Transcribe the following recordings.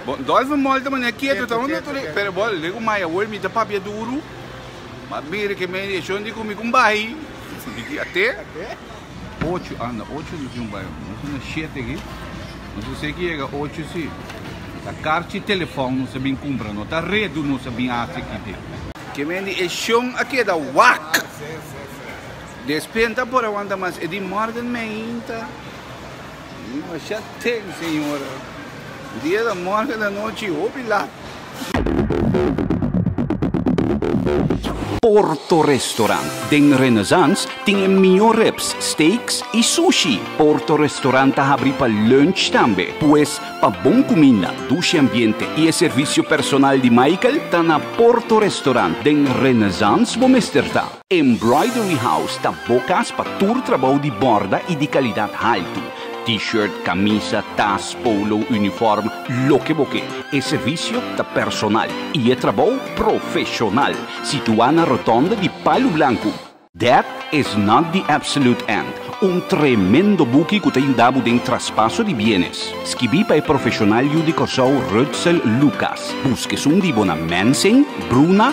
Bon, Dolphin Mall ta manera keto, ta un otro li-, pero bon, luego mai awor mi ta papia duro, ma mi recomendacion di cu mi con bahi, di ki a te, ocho, anda, ocho no tin bahi, nos ta na shete aki, nos ta ser ki yega ocho si, ta car chi telephone nos a bin cumpra, no ta redu nos a bin haci aki den. Recomendacion a keda wak! Despenta por awanta mas, e di Morgan Meinta, Dimasha temp señor, dia ta morga ta nochi hopi lat. Porto Restaurant den Renaissance tin e mihó rips, steaks i sushi. Porto Restaurant ta habri pa lunch tambe. Pues, pa bon kuminda, dushi ambiente i e servisio personal di Michael, ta na Porto Restaurant den Renaissance bo mester ta. Embroidery House ta bo kas pa tur trabou di bòrda i di kalidat haltu. T-shirt, kamisa, tas, polo, unifòrm, loke bo ke. E servisio ta personal i e trabou profeshonal. Situá na Rotònda di Palu Blanku. Death Is Not the Absolute End, un tremendo buki ku ta yuda bo den traspaso di bienes. Skibí pa e profeshonal yu di Kòrsou Rutzel Lucas. Busk esun di bo na Mensing, Bruna,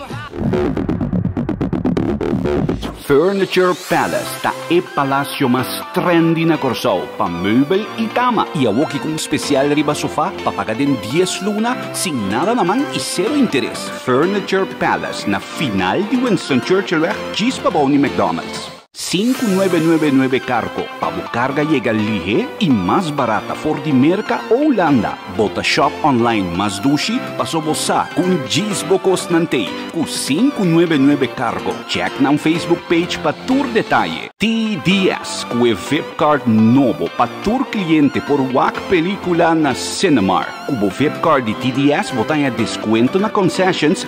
Furniture Palace ta e palasio mas trendy na Kòrsou pa meubel i kama i a woki ku un spesial riba sofá pa paga den dies luna sin nada na man i sero interes. Furniture Palace na final di Winston Churchillweg djis pa bou di McDonald's. Sinku nuebe nuebe nuebe kargo pa bo karga yega lihé i mas barata for di Merka o Hulanda. Bo ta shòp online mas dushi paso bo sa ku un djis bo kosnan t'ei ku sinku nuebe nuebe kargo. Chèk nan Facebook page pa tur detaye. TDS ku e vipkaart nobo pa tur kliente por wak pelikula na Cinemark. Ku bo vipkaart di TDS bo ta haña deskuento na concessions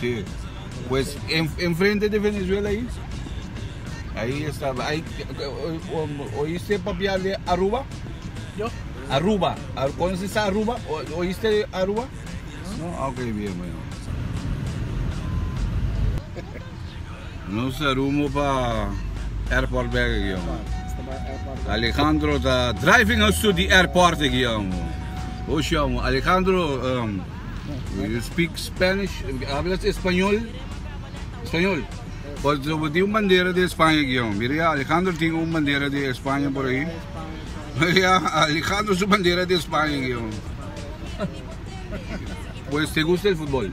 Si, pues en frente di Venezuela ahi, ahi estaba, ahi oiste papial di Aruba? Yo. Aruba, conoce esta Aruba? Oiste di Aruba? No, ok bien bueno. Nos ta rumbo pa airport bek aki amo. Alejandro ta driving us to the airport aki amo. Oshi amo, Alejandro. Do you speak Spanish? Hablas español? Español. Por so bo tin un bandera de España aquí, oh. Mira ya, Alejandro tin un bandera de España por ahí. Mira ya, Alejandro su bandera de España aquí, oh. Pues te gusta el fútbol?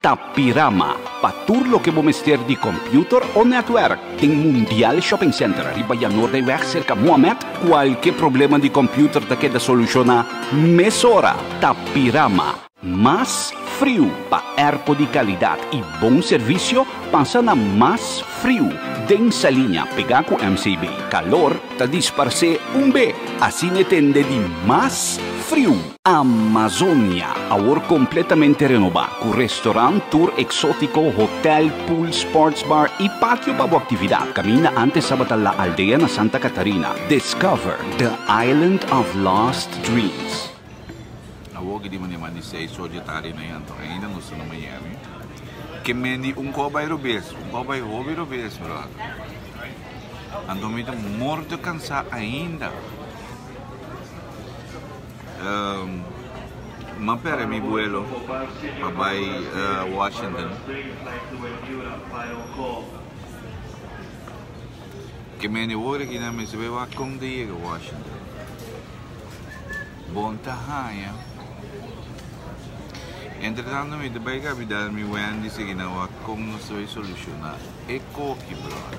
Tapirama, pa tur loke bo mester di computer o netwerk, den Mundial Shopping Center riba Yanordeyweg serka Mohammed, cualke problema di computer ta keda soluciona mesora. Tapirama. Mas friu pa erpo di calidad y bon servicio, pasa na Mas Friu den Saliña pega cu MCB. Calor ta disparse un be, asina e tende di Mas Friu. Amazonia, awor completamente renoba, cu restaurant, tour exotico, hotel, pool, sports bar y patio pa bo actividad. Caminda antes tabata La Aldea na Santa Catarina. Discover the island of lost dreams. Awor ke di mane mas di seis or dje tarde na yanto ainda nos ta na Miami. Ke men di un kò bai robes, un kò bai hobi robes, brother. Anto mi ta morto cansá ainda. M'a pere mi buelo pa bai Washington. Ke mende worde ki nan mester bai wak kon ta yega Washington. Bon ta haña. Entretanto mi ta bai kabidal mi Wendy sigi nan wak kon nos ta bai solushoná e koki, bròda.